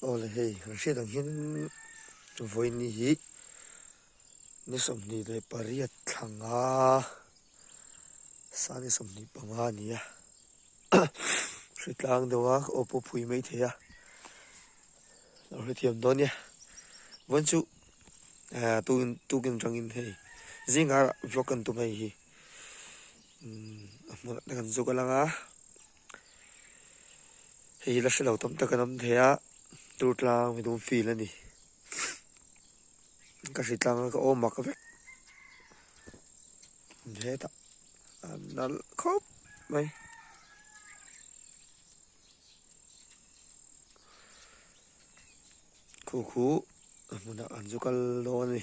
Awle hei kan hriat ang hian vawiin hi ni sawmhnih leh pariat thlanga sani sawmhnih panga a ni a hre tlang deuh a ka awpawh phui mai thei a lo hrethiam dawn nia vawiin chu tukin tukin tangin hei zinga vlog kan tum mai hi a hmun kan zuk a lang a Hei la hrelo tam tak an awm thei a, tur tlang mi dum feel a ni. Ka hri tlang a ka awm mak vek. He ta, nal khawp mai. Khu khu, hmuna an zu kal dawn a ni.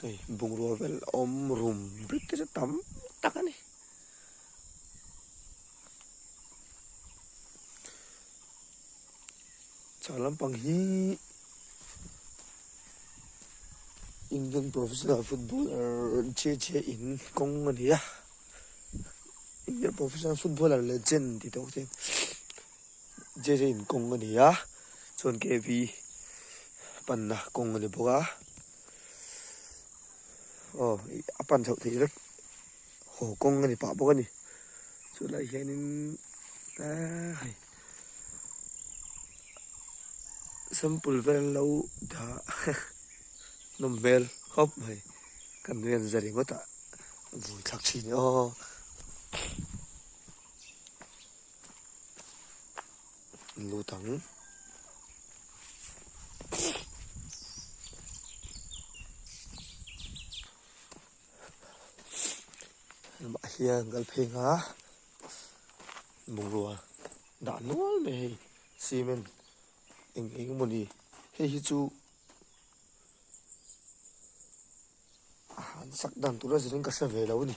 Hei bungrua vel a awm rum rit te chu tam tak a ni chhang lampang hi Indian professional footballer JJ in kawng a ni a Indian professional footballer legend tih te awk te. Jerin kawng a ni a, chuan KV panna kawng a ni bawk a. Aw, a pan chhoh theih vek haw kawng a ni pah bawk a ni. Chulai hianin ah, hei. Sample vel lo dah nawm hmel khawp mai. Kan rian za ringawt a, a vui thlak thin aw. lut ang mah hian kal pheng a bungrua dah nual mai hei cement eng eng maw ni hei hi chu a han sak dan tur a zir in ka hre ve lo a ni.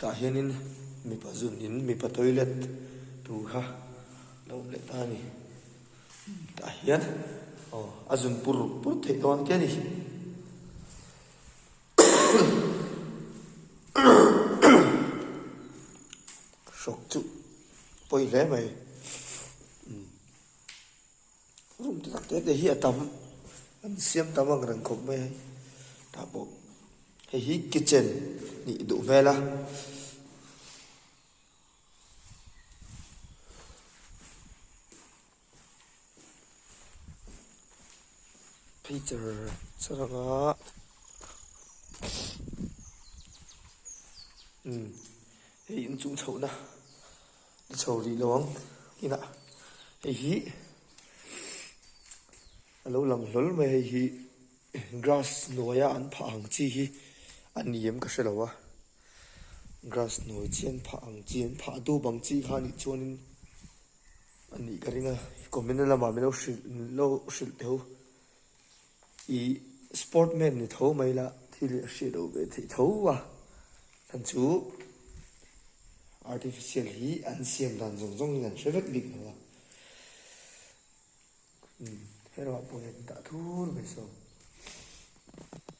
Tah hianin mipa zunin mipa toilet tur kha lo let ta a ni. Tah hian aw a zun pur pur theih dawn ang te a ni. Hrok chu pawi hle mai. Rum tak te te hi a tam, an siam ta vang reng khawp mai hei. Tah pawh hei hi kitchen nih duh hmel a. Peter chhang a. Hei inchung chhoh na. Ka chho rih lo ang inah hei hi a lo lang hlawl mai a, hei hi grass hnuaia an phah ang chi hi a ni em ka hre lo a, grass hnuai chi an phah ang chi, an phah dup ang chi kha nih chuanin a nih ka ring a, communal lamah min lo hrilh min lo hrilh theho I sport man ni tho mai la, thil hi a hriat lo ve theih tho a. Chan chu artificial hi an siam dan zawng zawng in an hre vek bik lo a. Umm, herawhah pawhin dah thur mai saw.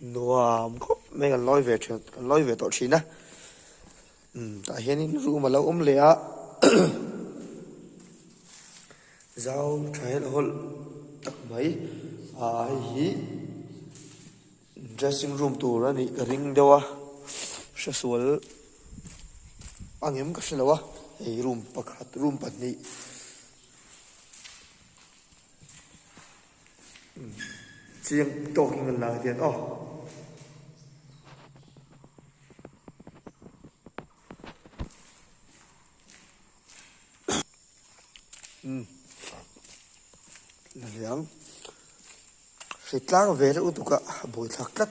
Nuam khawp mai kan lawi ve thin kan lawi ve tawh thin a, umm tah hianin room a lo awm leh a, zau tha hian a hawlh tak mai, aaa hei hi dressing room tur a nih ka ring deuh a, hrasual a ngem ka hrelo a, hei hi room pakhat room pahnih. Chiang tawk in kan la hian aw. Umm. Laliang. Hritlang ve reuh duka buai thlak tlat.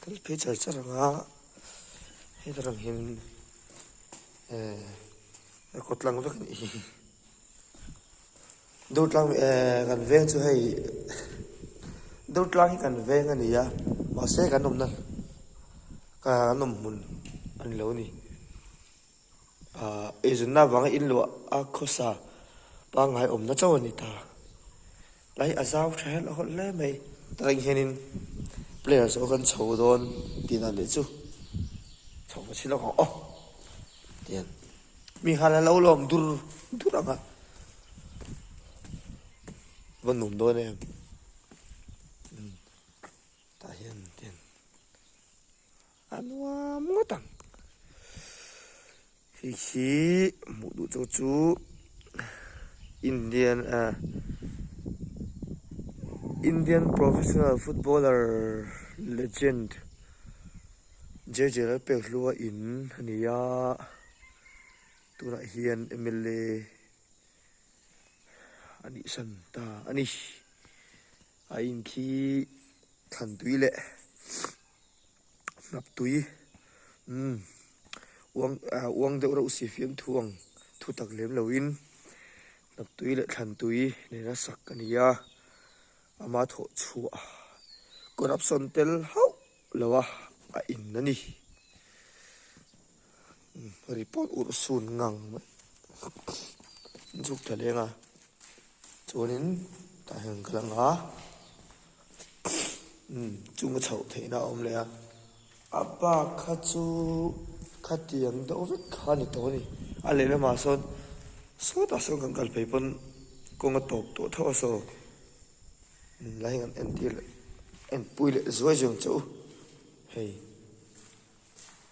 kal phei char char ang a heta ram hian eh a kawt lang vek a nih hi dawtlang eh kan veng chu hei dawtlang hi kan veng a ni a mahse kan awmna kan awm hmun a ni lo a ni. A eizunna vanga in luah a khawsa pangngai awmna chauh a ni ta. Tlai a zau ṭha hian a hawlh hle mai. Reng hianin player zawh kan chho dawn tiin a leh chu. Chho hmasi lawk ang aw tiin. Mi hal a lo lawm dur dur ang a. Va nuam dawn em. Tah hian tiin. A nuam ngawt ang. Hei hi hmuh duh chu chu Indian a Indian professional footballer legend JJ Lalpek hlua in a ni a. Tunah hian mla a nih hran ta a ni. A in khi thlan tui leh. Hnaptui, Umm, uang ah uang deuh reuh si fiang thu ang, thu tak lem lo in Hnaptui leh Thlantui nena sak a ni a, ama thawh chhuah ah corruption tel hauh lo a a in a ni. Report urhsun ngang mai zuk tha leng a, chuanin tah hian ka la nga umm chunga chhoh theihna a awm leh a, a pa kha chu khatiang deuh vek kha a ni tawh a ni, a lehlamah sawn sawtah sawn kan kal phei pawn kawng a tawp tawh tho a saw, lai han entir leh enpui leh zuai zawng che u hei.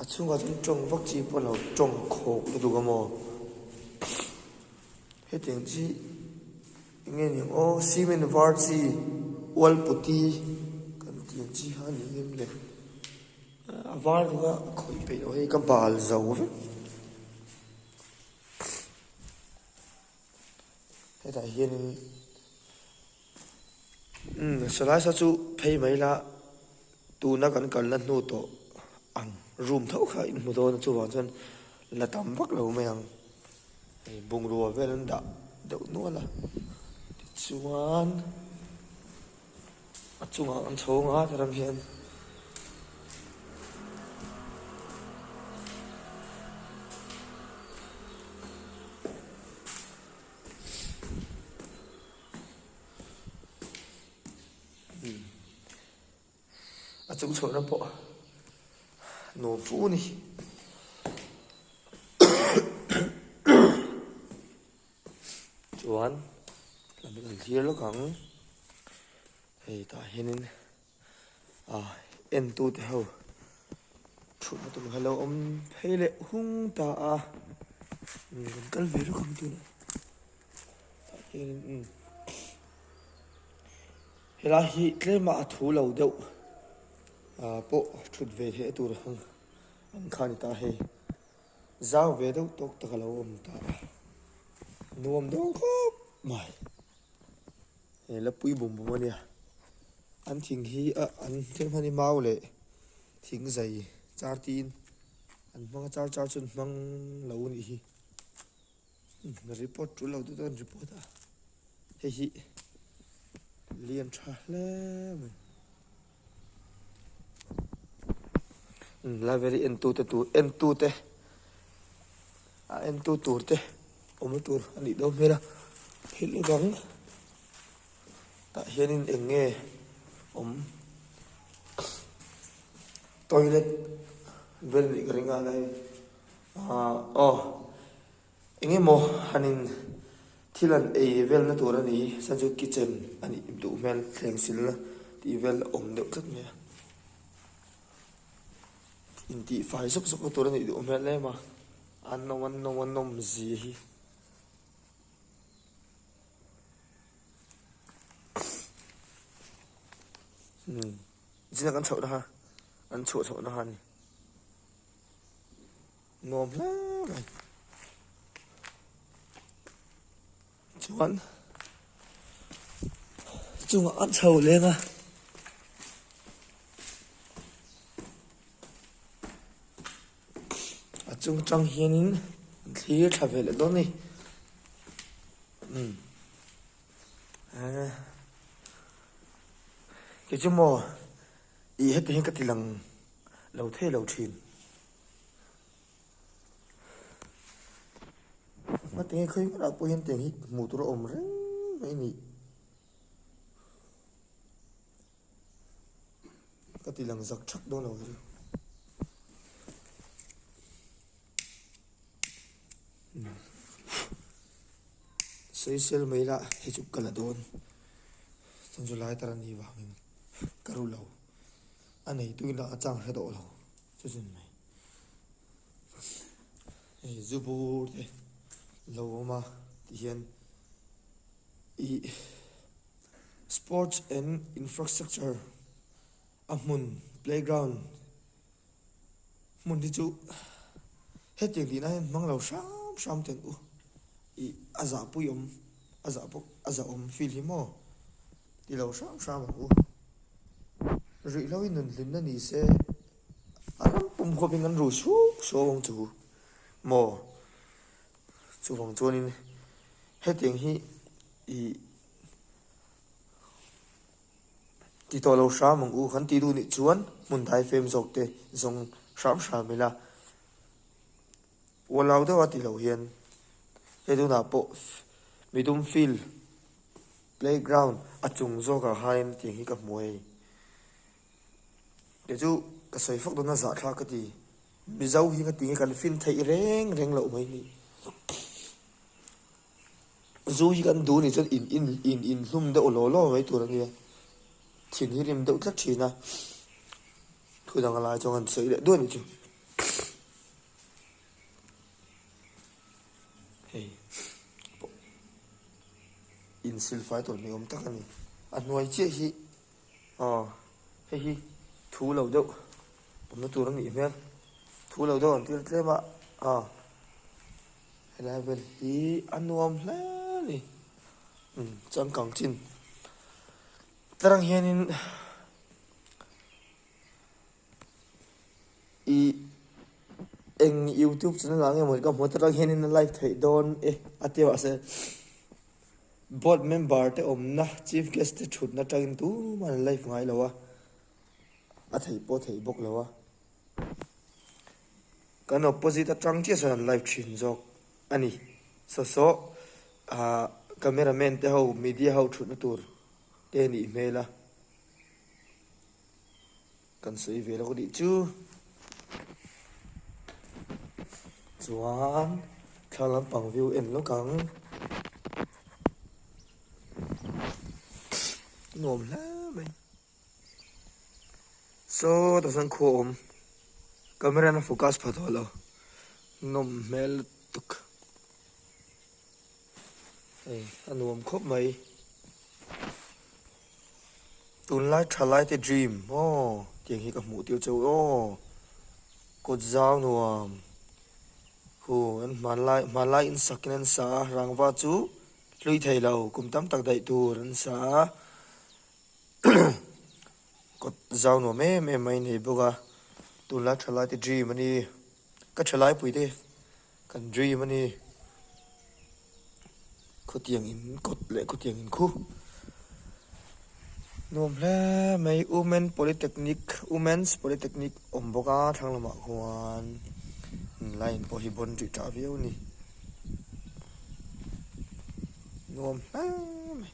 A chhungah chuan ṭawng vak chi pawh a lo ṭawng khawk lutuk a maw? Hetiang chi i nge ni ang? Aw cement var chi wall putty kan tih ang chi kha a nih ngim le. A var vek a a khawih peih loh hi ka bal zo vek. Hetah hianin umm Solaisa chu phei mai la, tuna kan kalna hnu tawh ang room tho kha in hmu dawn a chuvang chuan la tam vak lo mai ang, hei bungrua vel an dah deuh nual a tichuan. A chungah an tho ngat a ram hian a chung chhohna pawh nuam fu a ni. chuan a lo lal hlir lawk ang hei tah hianin ah entute ho thutna tur hi a lo awm phei leh hung ta a umm kan kal ve lawk ang tihna tah hianin umm helai hi tlema a thu lo deuh ah pawh thut ve theih a tur ang ang kha a ni ta hei. Zau ve deuh tawk taka lo awm ta a, nuam dawn khawp mai. He Lapui bumbum a nia, an thing hi a an thil hmang hi mau leh thing zai char tiin an hmang a, char char chuan hmang lo a nih hi. Report ṭuhlo duh dawn report a hei hi lian ṭha hle mai library en tute tur en tute a en tu tur te awm a tur a nih dawn hmel a thil hi dang tah hianin eng nge awm toilet vel anih ka ring a la hemi. Aw, eng emaw han in thil an ei vel na tur a ni, chuan chu kitchen a nih duh hmel thleng sil na tih vel a awm deuh tlat mai a, in tih fai zawk zawk na tur a nih duh hmel em a, a nawm a nawm a nawm zi hi. Zin a kan chhoh na ha, an chhuah chhoh na ha a ni. nuam hle mai chuan chungah a chho leng a a chung tang hianin thlir tha ve leh dawn ni um kehchu maw ih hetihin ka ti lang. lo thei lo thin. Hma te khawi nge lah pawh hian tiang hi hmuh tur a awm reng mai ni. Ka ti lang zak chak dawn lo chu. Sawi sel mai lah hei chu ka la dawn. Chhan chu lai tar a ni vangin ka ru lo. A neituin a chang hre tawh lo chu zun mai. Hei zu bur te lo awm a tih hian i Sports and Infrastructure a hmun playground hmun hi chu hetiang tihna hian hmang lo hram hram ten u i a zah pui awm a zah pawh a zah awm field hi maw I lo hram hram a hu. Rih lo i nun hlimna ni se, a ram pum khawp in an ru suau suau ang chu maw? Chuvang chuan in hetiang hi i ti tawh lo hram ang u, kan tih duh nih chuan hmun dai fem zawk te zawng hram hram ila. Ualau deuh a ti lo hian he tunah pawh mi dum field playground a chung zawkah hian tiang hi ka hmu hei. Kei chu ka sawi fak dawna zah thlak ka ti. Mizo hi ka ti nge kan feel theih reng reng loh mai ni. Zu hi kan duh ni chuan in in in in hlum deuh law law mai tur a nia. Thin hi rim deuh tlat thin a. Thu dang a lai chuan kan sawi leh duai ni chu. Hei pawh insil fai tawh ni awm tak a ni. A hnuai chiah hi aw hei hi thu lo deuh awmna tur a nih hmel. Thu lo deuh an tir tlem a aw helai vel hi a nuam hle a ni. Umm changkang chin tarang hianin. I eng youtube channel ah nge mawni ka hmu a tara hian in a like theih dawn e a ti mah se board member te awmna chief guest te thut na tang in tum a an like ngai lo a a thei pawh thei bawk lo a kan opposite atang chiah sawn an like thin zawk a ni saw saw ah camera man te ho media ho thut na tur te a nih hmel a. Kan sawi ve lawk a nih chu. Chuan thla lampang view en lawk ang. Nuam hle mai. Saw ta san khuwa awm. Camera na focus pha tawh lo. Nuam hmel lutuk. Hei a nuam khawp mai. Tunlai tha lai te dream aw tiang hi ka hmuh tir chauh aw kawt zau nuam hu an hmanlai hmanlai in sak in an sa a rangva chu hlui thei lo kum tam tak daih tur an sa a kawt zau nuam em em mai a nei bawk a tunlai tha lai te dream a ni. Ka ṭha lai puite, kan dream a ni. Khutiang in kawt leh khutiang in khu. Nuam hle mai Women Polytechnic, Women's Polytechnic awm bawk a, thlang lamah khuan in line pawh hi bon rih ṭah viau a ni. Nuam hle mai.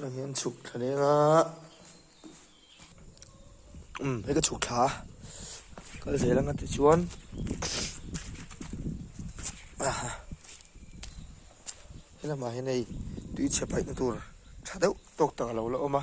Hei hian chhuk thla leng a, umm hei ka chhuk thla a, kal zel anga tichuan aha helamah hian hei tui chhe paihna tur tha deuh tawk tak a lo la awm a.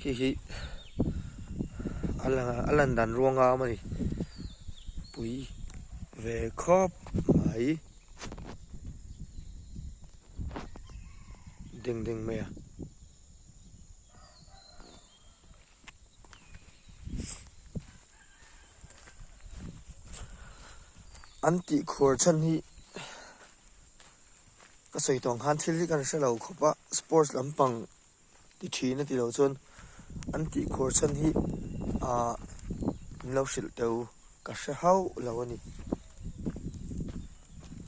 khi khi ala ala dan ruanga mani pui ve khop mai ding ding mai an tih khur chhan hi Ka sawi tawh nghan thil hi ka hre hre lo khawp a, sports lampang ti thin a ti lo chuan an tih khur chhan hi ah min lo hrilh teuh ka hre hauh lo a ni.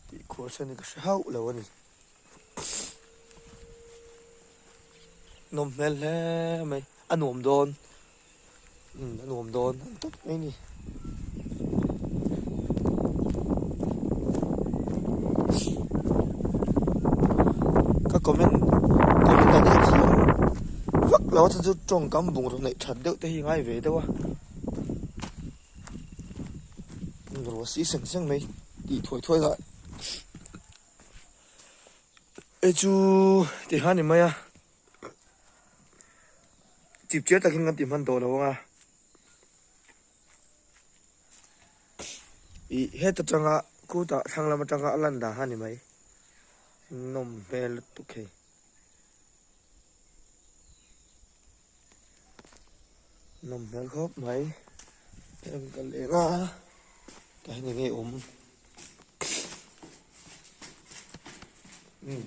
Tih khur chhan hi ka hre hauh lo a ni. Nawm hmel hle mai, a nuam dawn. Umm, a nuam dawn ang tak mai ni. Ka comment, comment a nih thiam vak lo a chu chu tawngkam bungraw neih that deuh te hi ngai ve deuh a. Bungraw si seng seng mai, tih thuai thuai lah. Hei chu, tihah a ni mai a. chip chiar takin kan tih hman tawh lo ang a ih heta tanga khutah thlang lam atanga a lan dan a ni mai nawm hmel lutuk hei nawm hmel khawp mai em ka leh nga ka hi ni ngei awm hmm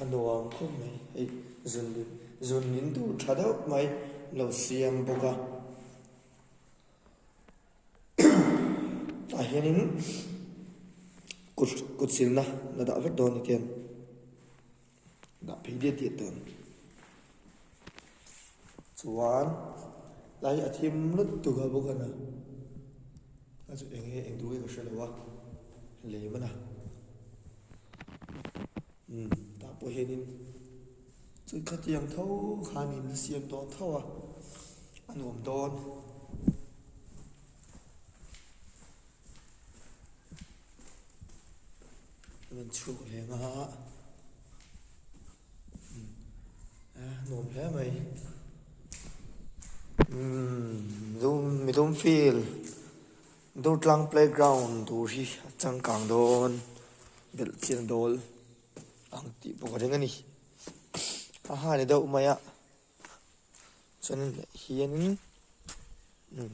A nuam khawp mai. Hei zun leh zun min duh tha deuh mai lo siam bawk a. Tah hianin kut kut silna la dah vek dawn a ken. Dah phei diat diat dawn. Chuan lai a thim lut tuk a bawk a na. A chu eng nge eng tu hi ka hre lo a, lem a na. Umm, tah pawh hianin chu khatiang tho khanin la siam tawh tho a, a nuam dawn. A rawn chhuak leh ngha a. nuam hle mai umm mi dum feel durtlang playground tur hi a changkang dawn belh chiang dawl ang tih bawk a ring a ni a ha ni deuh mai a. Chuanin leh hianin umm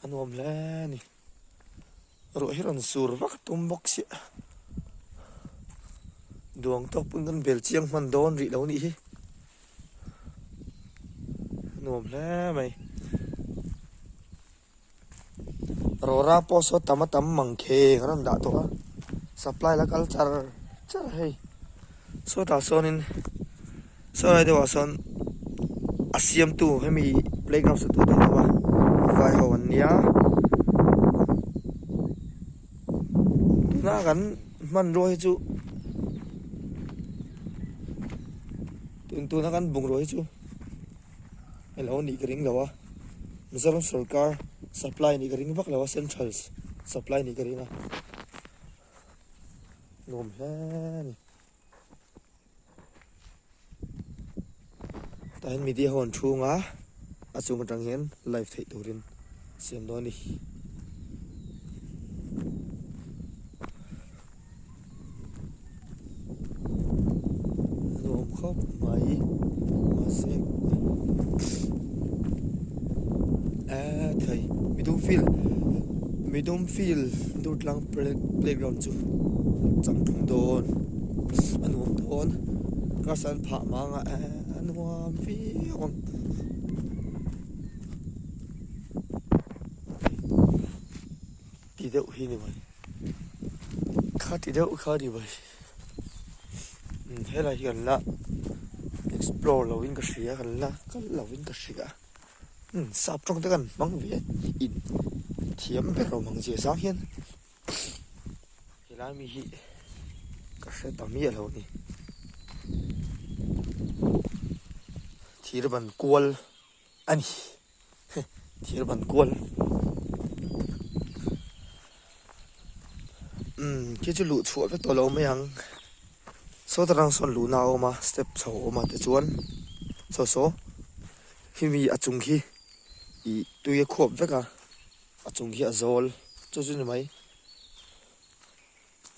a nuam hle a ni ruah hi rawn sur vak tum bawk sia duang tawk pawh chuan bel chiang hman dawn rih lo nih hi a nuam hle mai. Rawra pawh saw tam a tam mang kheng a rawn dah tawh a. Supply la kal char char hei. Sawtah sawnin saw lai deuhah sawn a siamtu hemi playground saw tur a vai ho an nia. Tuna kan hmanruah hi chu tun tuna kan bungrua hi chu. a lo nih ka ring lo a, Mizoram sorkar supply nih ka ring vak lo a, central supply nih ka ring a, ni awm hle a ni. Tah hian media ho an thu anga a chung atang hian live theih turin siam dawn a ni. nuam khawp mai mahse eee thei midum field midum field durtlang playground chu chang thung dawn a nuam dawn grass an phah manga eee a nuam viau ang. Kha ti deuh kha ni mai. Helai hian la explore lo in ka hria kan la kal lo in ka hria. Hmm, sap tawng te kan hmang ve a. In thiam ber lo mang zia zang hian. Helai mi hi ka hre ta miah lo ni. Thir ban kual a ni. thir ban kual um khi chu luh chhuah vek tawh lo mai ang saw ta rang sawn luhna a awm a step chho a awm a tichuan saw saw hemi a chung khi ih tui a khuap vek a a chung khi a zawl chu chu ni mai.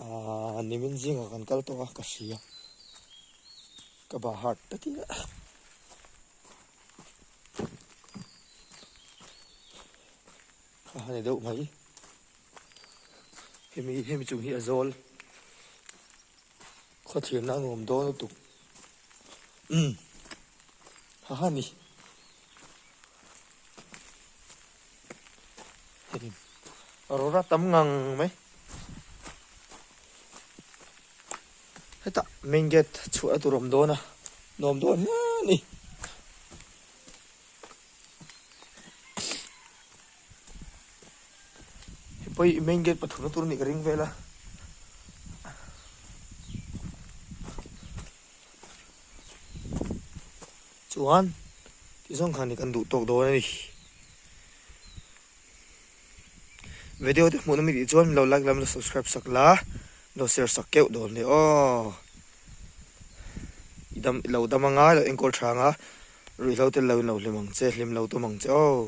Ahh nimin zingah kan kal tawh a ka hri a ka ba hard takin a a ha ni deuh mai hemi hemi chung hi a zawl Khawthlir na nuam dawn lutuk umm ha ha ni herin a rawn rat tam ngang mai hetah main gate chhuah la tur awm dawn a nuam dawn hle a ni. Hi pawh hi main gate pathum na tur a nih ka ring vel a. Chuan ti zawng khan hi kan duh tawk dawn a ni. Video te hmuhna mi tih chuan milo like la milo subscribe sak la, milo share sak keuh dawn leh aw. I dam i lo dam anga i lo enkawl tha anga ruihhlo tel lo in lo hlim ang che, hlim lo tawm ang che aw.